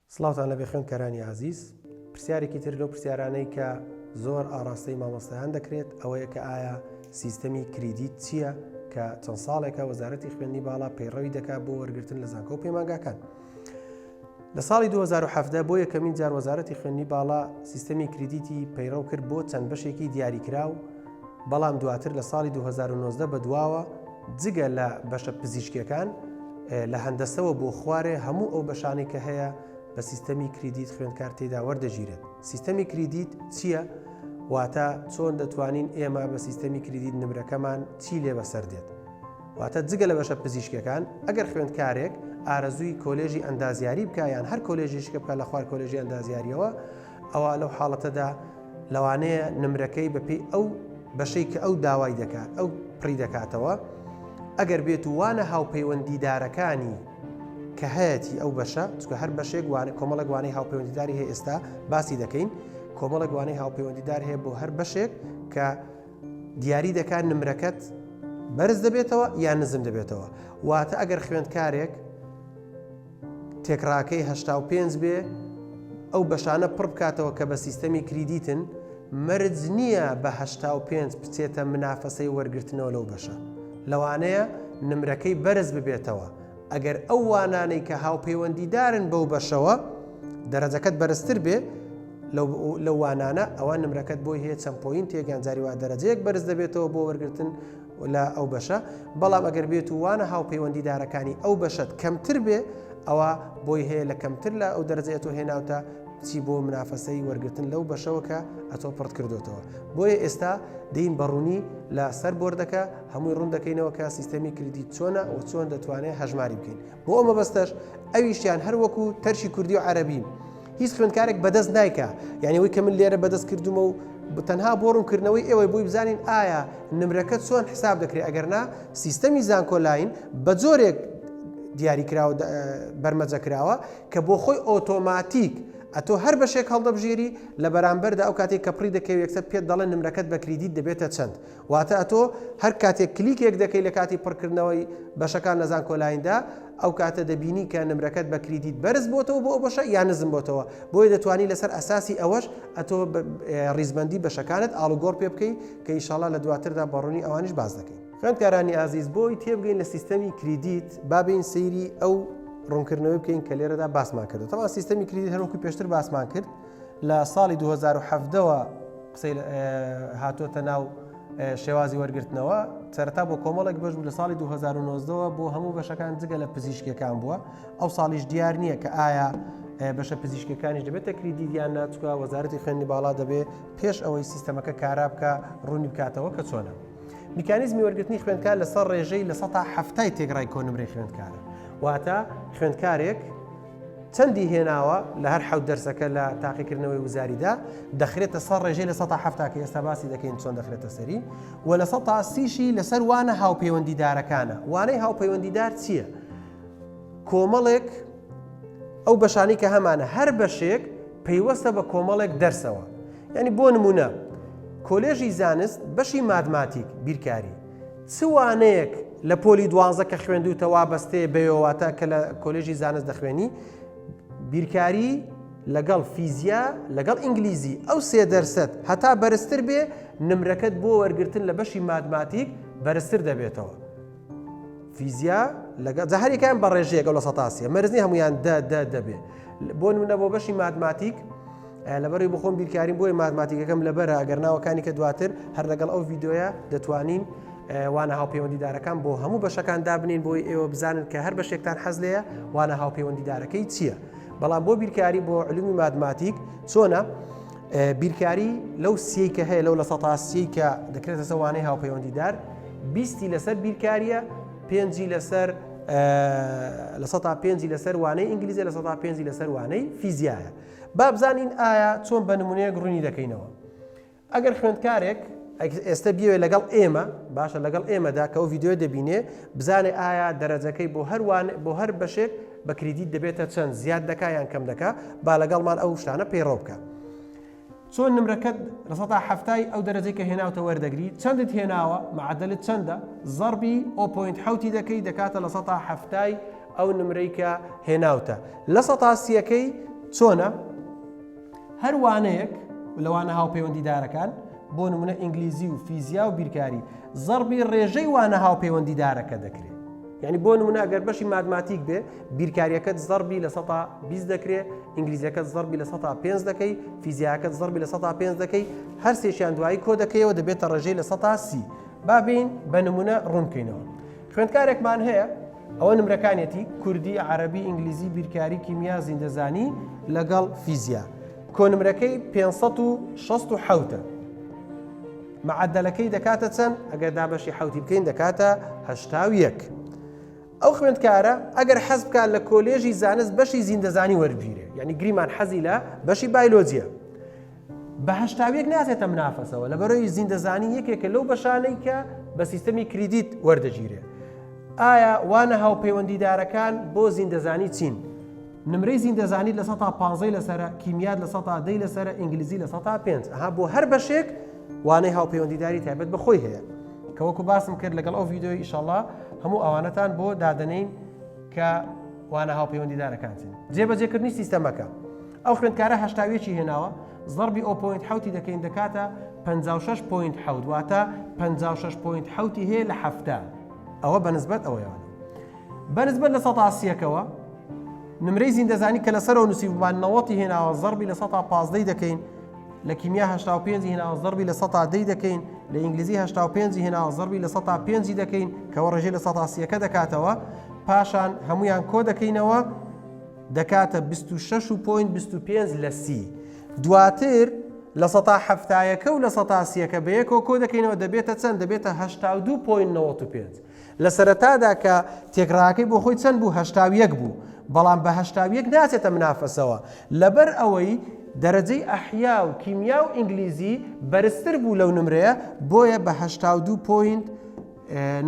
سڵاوتان لەبێ خوێندکارانی ئازیز، پرسیارێکی تر لەو پرسیارانەی کە زۆر ئاڕاستەی مامۆستایان دەکرێت ئەوەیە کە ئایا سیستەمی کریدیت چییە کە چەند ساڵێکە وەزارەتی خوێندنی باڵا پەیڕەوی دەکات بۆ وەرگرتن لە زانکۆ و پەیمانگاکان. لە ساڵی 2017 بۆ یەکەمین جار وەزارەتی خوێندنی باڵا سیستەمی کریدیتی پەیڕەو کرد بۆ چەند بەشێکی دیاریکراو، بەڵام دواتر لە ساڵی دوو هەزار و نۆزدە بەدواوە جگە لە بەشە پزیشکیەکان لە هەندەسەوە بۆ خوارێ هەموو ئەو بەشانەی کە هەیە بە سیستەمی کریدیت خوێندکار تێدا وەردەگیرێت سیستەمی کریدیت چییە؟ واتە چۆن دەتوانین ئێمە بە سیستەمی کریدیت نمرەکەمان چی لێ بەسەر دێت واتە جگە لە بەشە پزیشکەکان ئەگەر خوێندکارێک ئارەزووی کۆلێژی ئەندازیاری بکە یان هەر کۆلێژیشکە بکە لە خوار کۆلێژی ئەندازیاریەوە ئەوا لەو حاڵەتەدا لەوانەیە نمرەکەی بەپی ئەو بەشەی کە ئەو داوای دەکات ئەو پڕی دەکاتەوە ئەگەر بێت و وانە هاوپەیوەندیدارەکانی کە هەیەی ئەو بەشە چکە هەر بەشێک وانە کۆمەڵک وانەی هاوپەیوەندیداری هەیە ئێستا باسی دەکەین کۆمەڵک وانەی هاوپەیوەندیدار هەیە بۆ هەر بەشێک کە دیاری دەکات نمرەکەت بەرز دەبێتەوە یان نزم دەبێتەوە واتە ئەگەر خوێندکارێک تێکڕاکەی هەشتا و پێنج بێ ئەو بەشانە پڕ بکاتەوە کە بە سیستەمی کریدیتن، مەرج نییە بە هەشتا و پێنج بچێتە منافەسەی وەرگرتنەوە لەو بەشە. لەوانەیە نمرەکەی بەرز ببێتەوە ئەگەر ئەو وانانەی کە هاوپەیوەندیدارن بەو بەشەوە دەرەجەکەت بەرزتر بێ لەو وانانە، ئەوا نمرەکەت بۆی هەیە چەند پۆینتێک یان جاری وا دەرەجەیەک بەرز دەبێتەوە بۆ وەرگرتن لە ئەو بەشە، بەڵام ئەگەر بێت و وانە هاوپەیوەندیدارەکانی ئەو بەشەت کەمتر بێ ئەوا بۆی هەیە لە کەمتر لە ئەو دەرەجەی ئەتۆ هێناوتە بچی بۆ منافەسەی وەرگرتن لەو بەشەوە کە ئەتۆ پڕت کردوتەوە بۆیە ئێستا دین بەڕوونی لە سەر بردەکە هەمووی ڕوون دەکەینەوە کە سیستەمی کردی چۆنە و چۆن دەتوانێت هەژماری بکەین بۆ ئەمە بەستەش ئەویشیان هەروەکو تەرشی کوردی و عەربین هیچ خوێندکارێک بەدەست نایکا یعنی وەی کە من لێرە بەدەست کردومە و تەنها بۆ ڕوونکردنەوەی ئێوەی بۆی بزانین ئایا نمرەکە چۆن حساب دەکرێت ئەگەرنا سیستەمی زانکۆلاین بە جۆرێک دیاریکراوە بەرمەجە کراوە کە بۆ خۆی ئۆتۆماتیک ئەتۆ هەر بەشێک هەڵدەبژێری لە بەرامبەردا ئەو کاتێک کە پڕی دەکەوێت یەکسەر پێت دەڵێن نمرەکەت بە کریدیت دەبێتە چەند واتە تۆ هەر کاتێک کلیکێک دەکەی لە کاتی پڕکردنەوەی بەشەکان لە زانکۆلایندا ئەو کاتە دەبینی کە نمرەکەت بە کریدیت بەرز بۆتەوە بۆ ئەو بەشە یا نزم بۆتەوە بۆیە دەتوانی لەسەر ئەساسی ئەوەش ئەتۆ ڕیزبندی بەشەکانت ئاڵوگۆڕ پێ بکەی کە ئیشاڵا لە دواتردا بەڕوونی ئەوانش باز دەکەین خوێندکارانی ئازیز بۆی تێبگەین لە سیستەمی کریدیت بابین سەیری ئەو ڕوونکردنەوەی بکەین کە لێرەدا باسمان کرد تەوا سیستەمی کریدیت هەروکو پێشتر باسمان کرد لە ساڵی 2017ەوە قسەی هاتۆتە ناو شێوازی وەرگرتنەوە سەرتا بۆ کۆمەڵێک بەش بوو لە ساڵی 2009ەوە بۆ هەموو بەشەکان جگە لە پزیشکەکان بووە ئەو ساڵیش دیار نییە کە ئایا بەشە پزیشکەکانیش دەبێت تەکریدی دیان ناچکە وەزارەتی خوێنی باڵا دەبێ پێش ئەوەی سیستەمەکە کارا بکە ڕوونی بکاتەوە کە چۆنە میکانیزمی وەرگرتنی خوێندکار لەسەر ڕێژەی لە سە هەفتای تێگرای کۆنمرەی خوێندکارە واتە خوێندکارێک چەندی هێناوە لە هەر حەوت دەرسەکە لە تاقیکردنەوەی وزاریدا دەخرێتە سەر ڕێژەی لە 1970 کە ئێستا باسی دەکەین چۆن دەخرێتە سەری و لە 1930شی لەسەر وانە هاوپەیوەندیدارەکانە وانەی هاوپەیوەندیدار چییە؟ کۆمەڵێک ئەو بەشانی کە هەمانە هەر بەشێک پەیوەستە بە کۆمەڵێک دەرسەوە ینی بۆ نمونە کۆلێژی زانست بەشی مادماتیک بیرکاری چ وانەیەک لە پۆلی دوانزە کە خوێندووتە وابەستەیە بەوێ واتە کە لە کۆلێژی زانست دەخوێنی بیرکاری لەگەڵ فیزیا لەگەڵ ئینگلیزی ئەو سێ دەرسەت هەتا بەرزتر بێ نمرەکەت بۆ وەرگتن لە بەشی مادماتیک بەرزتر دەبێتەوە فیزیا لەگە جە هەریکان بە ڕێژەیە گەڵ لە سەتاسیە مەرزنی هەمویان دە دە دەبێ بۆ نمونە بۆ بەشی مادماتیک لەبەری بخۆم بیرکاریم بۆی ماتماتیکەکەم لەبەرە ئەگەر ناوەکانی کە دواتر هەر لەگەڵ ئەو یددیوە دەتوانین وانە هاوپەیوەندیدارەکان بۆ هەموو بەشەکان دابنین بۆی ئێوە بزانن کە هەر بەشێکتان حەز لەیە وانە هاوپەیوەندیدارەکەی چییە بەڵام بۆ بیرکاری بۆ علومی مادماتیک چۆنە بیرکاری لەو سی کە هەیە لەو لە سەتاسی کە دەکرێتە سەوانەی هاوپەیوەندیدار بیستی لەسەر بیرکاریە پێنجی لەسەر لە سە پێنجی لەسەر وانەی ئینگلیزی لە سە پێنجی لەسەر وانەی فیزیایە با بزانین ئایا چۆن بە نمونەیەک ڕوونی دەکەینەوە. ئەگەر خوێندکارێک ئێستا بیەوێت لەگەڵ ئێمە باشە لەگەڵ ئێمەدا کە ئەو ڤیددیو دەبینێ بزانێ ئایا دەرەجەکەی بۆ هەروان بۆ هەر بەشێک بە کریدیت دەبێتە چەند زیاد دەکا یان کەم دەکا با لەگەڵمان ئەو شتانە پەیڕەو بکە. چۆن نمرەکەت لە سەتا حەفتای ئەو دەرەجەی کە هێناوتە وەردەگری چەندت هێناوە معەدەلت چەندە زەڕبی ئەو پۆینت حەوتی دەکەی دەکاتە لە سەتا حەفتای ئەو نمرەی کە هێناوتە لە سەتا سیەکەی چۆنە هەر وانەیەک لەوانە هاوپەیوەندیدارەکان بۆ نمونە ئینگلیزی و فیزیا و بیرکاری زەڕبی ڕێژەی وانە هاوپەیوەندیدارەکە دەکرێت یعنی بۆ نمونە ئەگەر بەشی مادماتیک بێ بیرکاریەکەت زەربی لە سەتا بیست دەکرێ ئینگلیزیەکەت زەربی لە سەتا پێنج دەکەی فیزیاکەت زەربی لە سەتا پێنج دەکەی هەر سێشیان دوایی کۆ دەکەیەوە دەبێتە ڕێژەی لە سەتا سی بابین بە نمونە ڕوونکەینەوە خوێندکارێکمان هەیە ئەوە نمرەکانێتی کوردی عربی ئینگلیزی بیرکاری کیمیا زیندەزانی لەگەڵ فیزیا کۆنمرەکەی 560 حوتە معەدەلەکەی دەکاتە چەند؟ ئەگەر دابەشی حەوتی بکەین دەکاتە هەشتا و یەک. ئەو خوێندکارە ئەگەر حەز بکات لە کۆلێژی زانست بەشی زیندەزانی وەربگیرێ یعنی گریمان حەزی لە بەشی بایلۆجیە بە هەشتاویەک ناتێتە منافەسەوە لە بەرەوی زیندەزانی یەکێکە لەو بەشانەی کە بە سیستەمی کریدیت وەردەگیرێ ئایا وانە هاوپەیوەندیدارەکان بۆ زیندەزانی چین؟ نمرەی زیندەزانیت لە سەتا پانزەی لەسەرە کیمیات لە سەتا دەی لەسەرە ئینگلیزی لە سەتا پێنج ئەها بۆ هەر بەشێک وانەی هاوپەیوەندیداری تایبەت بە خۆی هەیە کەوەکو باسم کرد لەگەڵ ئەو ڤیددیۆی ئیشەڵا هەموو ئەوانەتان بۆ دادەنین کە وانە هاوپەیوەندیدارەکانتین جێبەجێکردنی سیستەمەکە ئەو خوێندکارە هەشتاویەکی هێناوە زەربی ئەو پوینت حوتی دەکەین دەکاتە 56 پوینت حوت واتە 56 پوینت حوتی هەیە لە هەفتە ئەوە بەنسبەت ئەوەیان بە نسبەت لە سەتا سیەکەوە نمرەی زیندەزانی کە لەسەرەوە نووسیبمان نەوەتی هێناوە زەربی لە سەتا پازدەی دەکەین لە کیمیا هشتا و پێنجی هێناوە زەربی لە سەتا دەی دەکەین لە ئینگلیزی هشتا و پێنجی هێناوە زەربی لە سەتا پێنجی دەکەین کەەوە ڕێژەی لە سەتا سیەکە دەکاتەوە پاشان هەمویان کۆ دەکەینەوە دەکاتە 26 و پوین 25 لە سی دواتر لە سەتا هەفتایەکە و لە سەتا سیەکە بەیەکەوە کۆ دەکەینەوە دەبێتە چەند دەبێتە 1995. لە سەرەتادا کە تێکڕاکەی بۆ خۆی چەند بوو هەشتا و یەک بوو بەڵام بە هەشتا و یەک ناچێتە منافەسەوە لەبەر ئەوەی دەرەجەی ئەحیا و کیمیا و ئینگلیزی بەرزتر بوو لەو نمرەیە بۆیە بە هەشتا و دوو پۆینت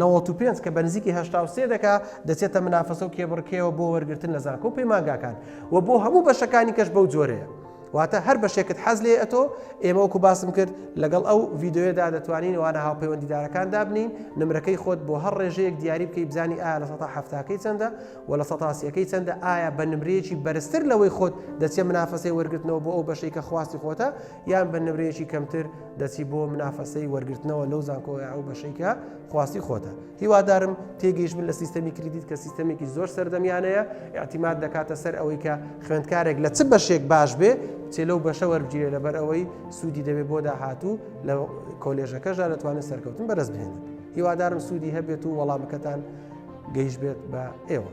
نەوەت و پێنج کە بە نزیکی هەشتا و سێ دەکا دەچێتە منافەسە و کێبڕکێەوە بۆ وەرگرتن لە زانکۆ و پەیمانگاکان و بۆ هەموو بەشەکانی کەش بەو جۆرەیە واتە هەر بەشێکت حەز لێ ئەتۆ ئێمە وەکو باسم کرد لەگەڵ ئەو ڤیددیوەدا دەتوانین وانە هاوپەیوەندیدارەکان دابنین نمرەکەی خۆت بۆ هەر ڕێژەیەک دیاری بکەی بزانی ئایا لە سەتا هەفتاکەی چەندە و لە سەتاسیەکەی چەندە ئایا بە نمرەیەکی بەرزتر لەوەی خۆت دەچێ منافەسەی وەرگرتنەوە بۆ ئەو بەشەی کە خواستی خۆتە یان بە نمرەیەکی کەمتر دەچی بۆ منافەسەی وەرگرتنەوە لەو زانکۆە ئەو بەشەیکە خواستی خۆتە هیوادارم تێگەیشت بن لە سیستەمی کریدیت کە سیستەمێکی زۆر سەردەمیانەیە ئاعتیماد دەکاتە سەر ئەوەی کە خوێندکارێک لە چ بەشێک باش بێ چێ لەو بەشە وەربگیرێ لەبەر ئەوەی سوودی دەبێت بۆ داهاتوو لە کۆلێژەکەشدا دەتوانێت سەرکەوتن بەرز بهێنن هیوادارم سوودی هەبێت و وەڵامەکەتان گەیش بێت بە ئێوە.